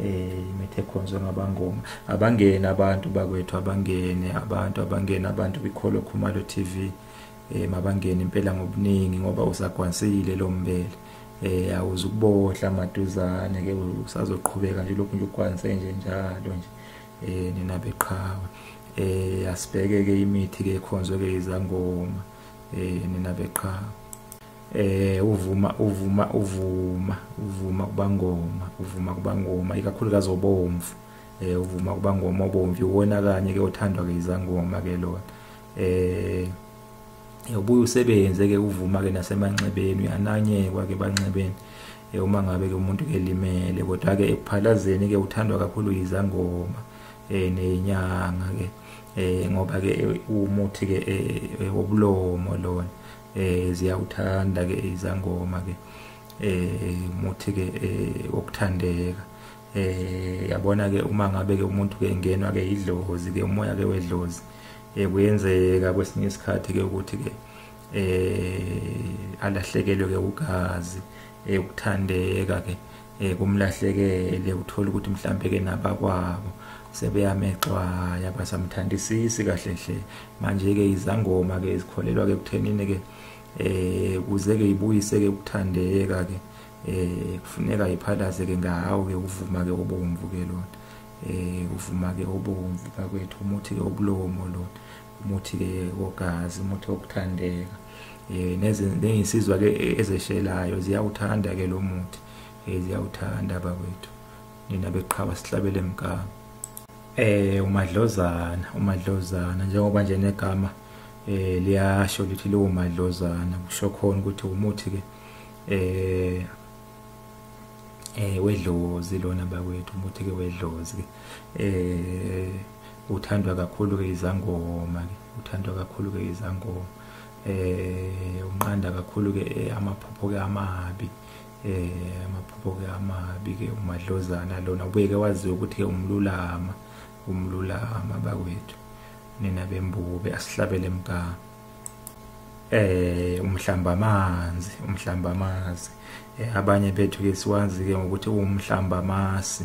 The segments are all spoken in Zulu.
eh imithe ekhonzwe ngabangoma abangene abantu bakwethu abangene abantu abangene abantu kwikholo khumalo TV eh mabangene impela ngobuningi ngoba usagwansile lo mbele eh awuze ukubohla maduzane ke usazoqhubeka nje lokhu nje ukwanse nje njalo nje eh nina beqhawe eh asibheke ke imithi ke ekhonzwe ke izangoma eh nina beqhawe eh uvuma uvuma uvuma uvuma kubangoma uvuma kubangoma ikakhulukazi obomvu eh uvuma kubangoma obomvu uwona kanye ke othandwa ke izangoma ke lona eh ubuye usebenze ke uvuma ke nasemanxebeni uyananyekwa ke banxebeni eh, uma ngabe ke umuntu ke limele kodwa ke ekuphalazeni ke uthandwa kakhulu izangoma eh nenyanga ke eh ngoba ke umuthi ke eh, eh, wobulomo lona eh ziyawuthanda ke izangoma ke eh muthi ke eh, wokuthandeka eh yabona ke uma ngabe ke umuntu ke engenwa ke idlozi ke umoya ke wedlozi eh kuyenzeka kwesinye isikhathi ke ukuthi ke eh alahlekelwe ke ugazi eh ukuthandeka ke eh kumlahlekele uthola ukuthi mhlambe ke nabakwabo sebeyamexwaya basamthandisisi kahle hle manje ke izangoma ke izikholelwa ke kuthenini ke eh kuze ke ibuyise ke ukuthandeka ke eh kufuneka iphalaze ke ngawo ke ukuvuma ke obomvu ke lona eh uvuma ke obomvu bakwethu umuthi ke obulomo lona umuthi ke wogazi umuthi wokuthandeka eh nezensizwa ke ezeshelayo ziyawuthanda ke lo muthi eh ziyawuthanda bakwethu nina beqhaba sihlabele emgama eh umadlozana umadlozana njengoba nje negama eh liyasho lithi lo madlozana kusho khona ukuthi umuthi ke eh eh wedlozi lona bakwethu umuthi ke wedlozi ke eh uthandwa kakhulu ke izangoma ke uthandwa kakhulu ke izangoma eh unqanda kakhulu ke eh, amaphupho ke amabi eh amaphupho ke amabi ke umadlozana lona ubeke waziwa ukuthi ke umlulama umlulama bakwethu nina bembube asihlabele mgama eh umhlamba amanzi umhlamba amazi eh, abanye bethu ke siwazi ke ngokuthi umhlamba amasi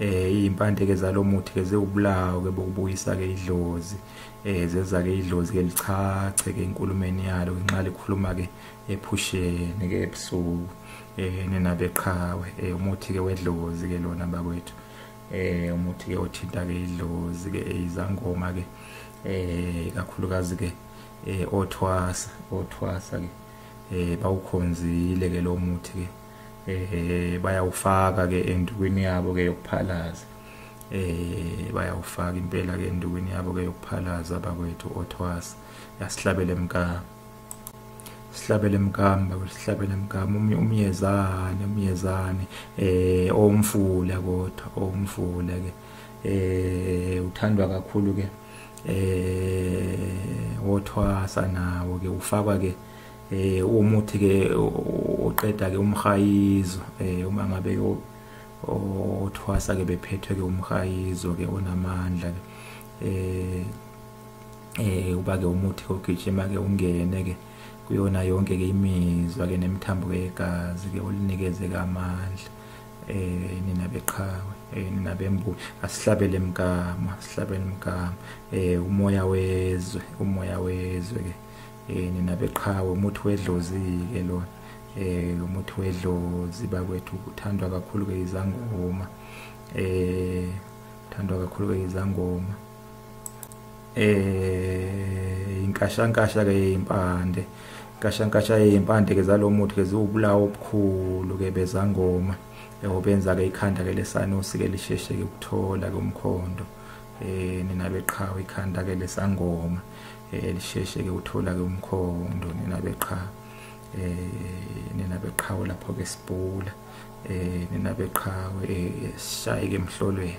eh izimpande ke zalomuthi ke zewubulawo ke bokubuyisa ke idlozi eh zeza ke idlozi ke lichache ke inkulumeni yalo nxa likhuluma ke ephusheni ke ebusuku eh nina beqhawe eh umuthi ke wedlozi ke lona bakwethu eh umuthi ke othinta ke idlozi ke izangoma ke eh kakhulukazi ke eh othwasa othwasa ke eh bawukhonzile ke lo muthi ke eh bayawufaka ke endukwini yabo ke yokuphalaza eh bayawufaka impela ke endukwini yabo ke yokuphalaza bakwethu othwasa yasihlabele mkaka sihlabele mkamba sihlabele mkamba umyezane umyezane eh omfula kodwa omfula ke eh uthandwa kakhulu ke eh wothwasa nawo ke ufakwa ke eh umuthi ke oqeda ke umhayizo eh uma ngabe othwasa ke bephethwe ke umhayizo ke onamandla ke eh eh uba ke umuthi ogijima ke ungene ke kuyona yonke ke imizwa ke nemithambo yegazi ke olinikeze ke amandla eh nina beqhawe eh nina bembu asihlabele emgama sihlabele emgama eh umoya wezwe umoya wezwe ke eh nina beqhawe umuthi wedlozi ke lona eh umuthi wedlozi bakwethu uthandwa kakhulu ke izangoma eh uthandwa kakhulu ke izangoma eh inkashankasha ke impande inkashankasha impande ke zalomuthi ke ziwubulawo obukhulu ke bezangoma yabo benza ke ikhanda ke lesanusi ke lisheshe ke ukuthola ke umkhondo eh nina beqhawe ikhanda ke lesangoma eh lisheshe ke uthola ke umkhondo nina beqhawe eh nina beqhawe lapho ke sibhula eh nina beqhawe eh sishaye ke emhlolweni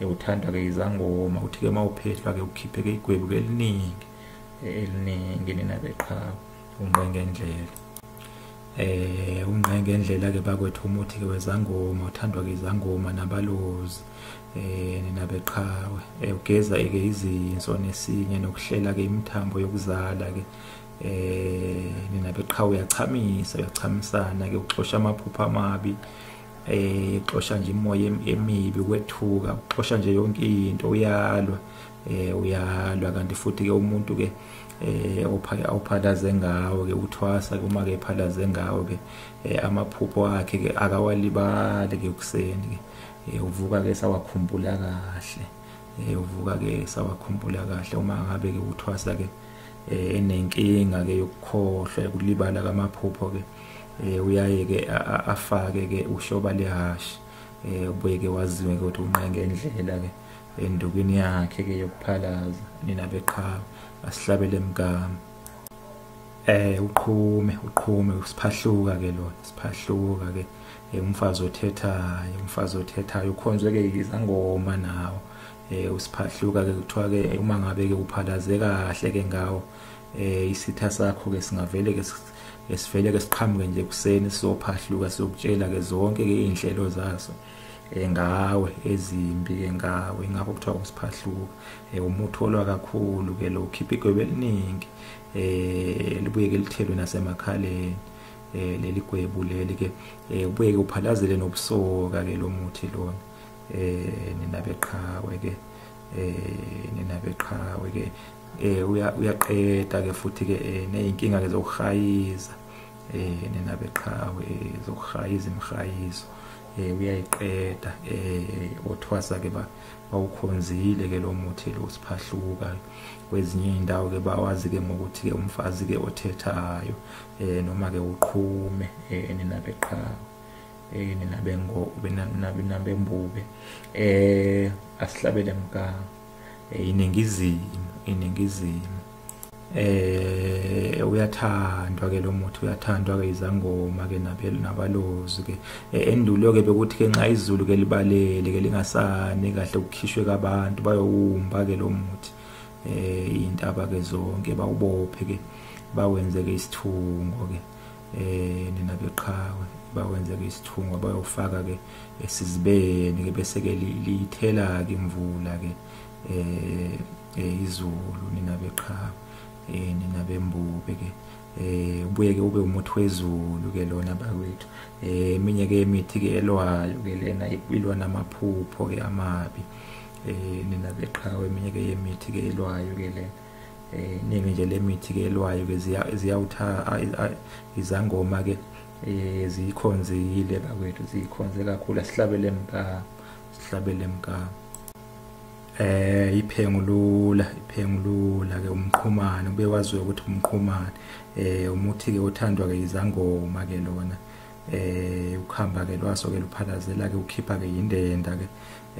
ewuthanda ke izangoma uthi ke mawuphehlwa ke ukhiphe ke igwebu ke eliningi eliningi nina beqhawe ungqenge ndlela eh ungqenge ndlela ke bakwethu umuthi ke wezangoma uthandwa ke izangoma nabalozi eh nina beqhawe eh, ugeza ke izinso nesinye nokuhlela ke imithambo yokuzala ke eh nina beqhawe uyachamisa uyachamisana ke uxosha amaphupha amabi eh xosha nje imoya emibi kwethuka xosha nje yonke into uyalwa eh uyalwa kanti futhi ke umuntu ke eh awuphalaze ngawo ke uthwasa uma ke phalaze ngawo ke eh, amaphupho akhe ke akawalibali ke kuseni ke eh, uvuka ke sawakhumbula kahle eh, uvuka ke sawakhumbula kahle uma ngabe ke uthwasa ke enenkinga ke yokukhohlwa ukulibala kamaphupho ke eh uyaye ke afake ke ushoba lehashi eh ubuye ke waziwe ke ukuthi unqenge indlela ke endukweni yakhe ke yokuphalaza nina beqhawe asihlabele mgama eh uqhume uqhume usiphahluka ke lona siphahluka ke eh, umfazi othethayo umfazi othethayo ukhonzwe ke izangoma nawo eh usiphahluka ke kuthiwa ke uma ngabe ke uphalaze kahle ke ngawo eh isitha sakho ke singavele ke esivele ke siqhamuke nje kuseni sizophahluka siyokutshela ke zonke ke izinhlelo zaso eh, ngawe ezimbi ke ngawe ngakho kuthiwa usiphahluka eh, umutholwa kakhulu ke lo khipha igwebe eliningi eh libuye ke lithelwe nasemakhaleni eh leli gwebu leli ke eh, ubuye ke uphalazele nobusoka ke lo muthi lona eh nina beqhawe ke eh nina beqhawe ke eh uyaqeda ke futhi ke eh, nezinkinga ke zokuhayiza eh nina beqhawe eh, zokuhayiza imhayizo eh uyayiqeda eh othwasa ke ba bawukhonzile ke lo muthi lo siphahluka kwezinye indawo ke bawazi ke ngokuthi ke umfazi ke othethayo eh noma ke uqhume eh nina beqhawe eh nina bengo benabembube eh asihlabele mganga eh, iningizimu iningizimu eh uyathandwa ke lo muthi uyathandwa ke izangoma ke nabalozi ke eh, endulo ke bekuthi ke nxa izulu ke libalele ke lingasani kahle ukukhishwe kabantu bayowumba ke lo muthi eh intaba ke zonke bawubophe ke bawenze ke isithungo ke eh nina beqhawe bawenze ke isithungo bayofaka ke esizibeni ke bese ke lithela ke imvula ke eh, eh izulu nina beqhawe eh nina bembube ke eh ubuye ke ube umuthi wezulu ke lona bakwethu eh eminye ke imithi ke elwayo ke lena ilwa namaphupho ke amabi eh nina beqhawe eminye ke yemithi ke elwayo ke lena eh ningi nje lemithi ke elwayo ke ziyawutha izangoma ke eh ziyikhonzile bakwethu ziyikhonze kakhulu asihlabele mkama sihlabele mkama eh iphengulula iphengulula ke umqhumane ube waziwe ukuthi umqhumane eh umuthi ke othandwa ke izangoma ke lona eh ukhamba ke lwaso ke luphalazela ke ukhipha ke indenda ke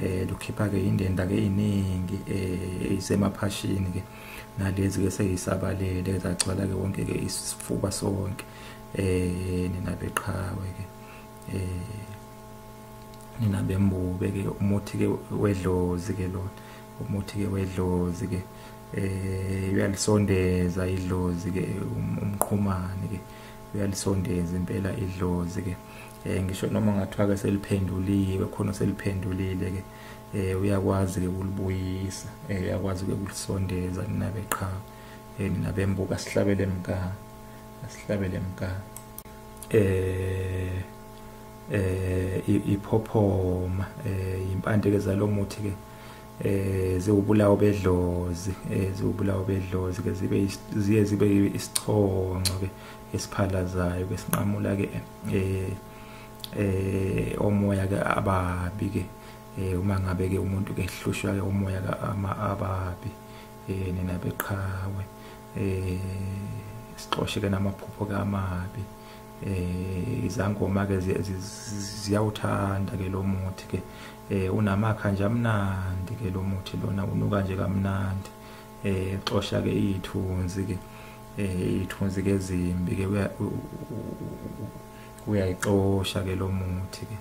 eh lukhipha ke indenda ke iningi eh isemaphashini ke nalezi ke seyisabalele zagcwala ke wonke ke isifuba sonke eh nina beqhawe ke eh nina bembube ke umuthi ke wedlozi ke lona umuthi ke wedlozi ke eh uyalisondeza idlozi ke um, umqhumane ke uyalisondeza impela idlozi ke eh ngisho noma ngathiwa ke seliphenduliwe khona seliphendulile ke eh uyakwazi ke ukulibuyisa eh uyakwazi ke ukulisondeza nina beqhawe eh nina bembuka sihlabele mkani asihlabele mka eh eh iphophoma eh impande ke zalomuthi ke eh ziwubulawo bedlozi eh ziwubulawo bedlozi ke zibe ziye zibe isichonco ke esiphalazayo ke sinqamula ke eh eh omoya ke ababi ke eh uma ngabe ke umuntu ke hlushwa ke umoya ke ama ababi eh nina beqhawe eh sixoshe ke namaphupho kamabi eh izangoma ke ziyawuthanda ke lo muthi ke eh unamakha nje amnandi ke lo muthi lona unuka nje kamnandi eh xosha ke izithunzi ke eh izithunzi ke zimbi ke uyayixosha ke lo muthi ke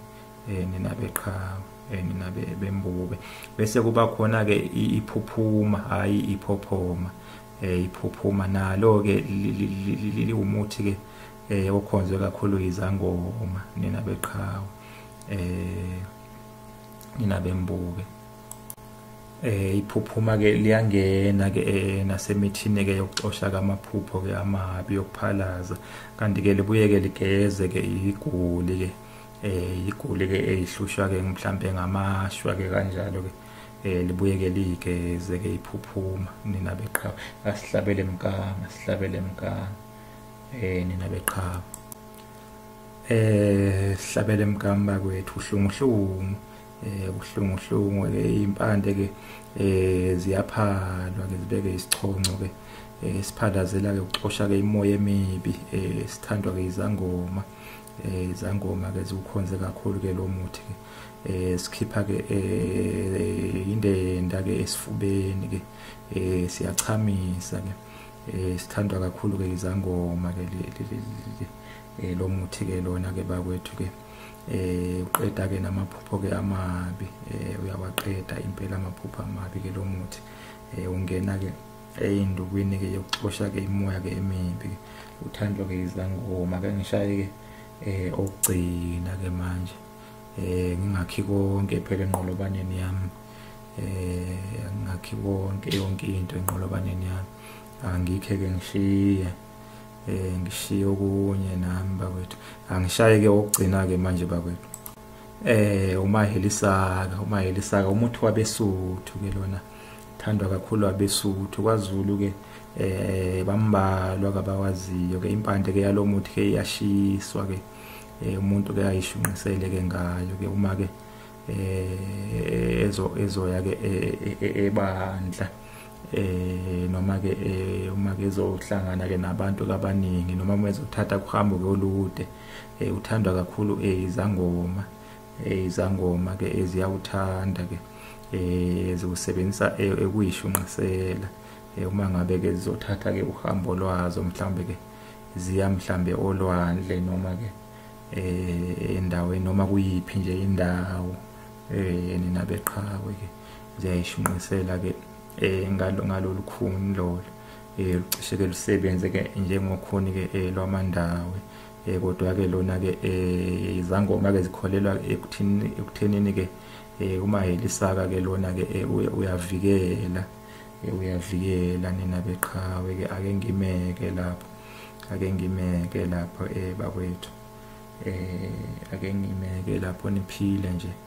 eh nina beqhawe eh nina bembube bese kuba khona ke iphuphuma hayi iphophoma eh iphuphuma nalo ke liwumuthi ke eh okhonzwe kakhulu izangoma nina beqhawe eh nina bembube eh iphuphuma ke liyangena ke eh, nasemithini ke yokuxosha kamaphupho ke amabi yokuphalaza kanti ke libuye ke ligeze ke igoli ke eh igoli ke eyihlushwa ke mhlambe ngamashwa ke kanjalo ke eh libuye ke like ze ke iphuphuma nina beqhawe asihlabele mkanga sihlabele mkanga eh nina beqhawe eh sihlabele mkamba kwethu uhlungu hlungu eh uhlungu hlungu ke impande ke eh ziyaphalwa ke zibeke isichonco ke eh, siphandazela ke uxosha ke imoya emibi eh sithandwa ke izangoma eh izangoma ke ziwukhonze kakhulu ke lo muthi ke eh sikhipha ke eh indenda ke esifubeni ke eh siyachamisa ke eh sithandwa kakhulu ke izangoma ke eh lo muthi ke lona ke bakwethu ke eh uqeda ke namaphupho ke amabi eh uyawaqeda impela amaphupho amabi ke lo muthi eh ungena ke eyindukwini ke yokuxosha ke imoya ke emibi uthandwa ke izangoma ke ngishaye ke eh okugcina ke manje eh ngingakhi konke phela enqolobaneni yami eh ngingakhi konke yonke into enqolobaneni yami angikhe ke ngishiye eh ngishiye okunye nami bakwethu angishaye ke okugcina ke manje bakwethu eh umahelisaka umahelisaka umuthi wabesuthu ke lona thandwa kakhulu abesuthu kwazulu ke eh bambalwa kabawaziyo ke impande ke yalomuthi ke iyashiswa ke eh, umuntu ke ayishunqisele ke ngayo ke uma ke eh ezo ezoya ke eh, eh, ebandla eh noma ke uma ke ezohlangana ke nabantu kabaningi noma uma ezothatha kuhambo ke olude uthandwa kakhulu izangoma eh, izangoma ke eziyawuthanda ke eh, ziwusebenzisa eh, ekuyishunqisela uma ngabe ke zizothatha ke uhambo lwazo mhlambe ke ziya mhlambe olwandle noma ke endaweni noma kuyiphi nje indawo eh nina beqhawe ke ziyayishunqisela ke eh ngalo ngalolu khuni lolo eh lucishe ke lusebenze ke njengokhuni ke lwamandawe eh kodwa ke lona ke eh izangoma ke zikholelwa ekuthini ekuthenini ke eh uma helisaka ke lona ke eh, uyavikela eh, uyavikela nina beqhawe ke ake ngimeke lapho ake ngimeke lapho eh bakwethu eh ake ngimeke lapho niphile nje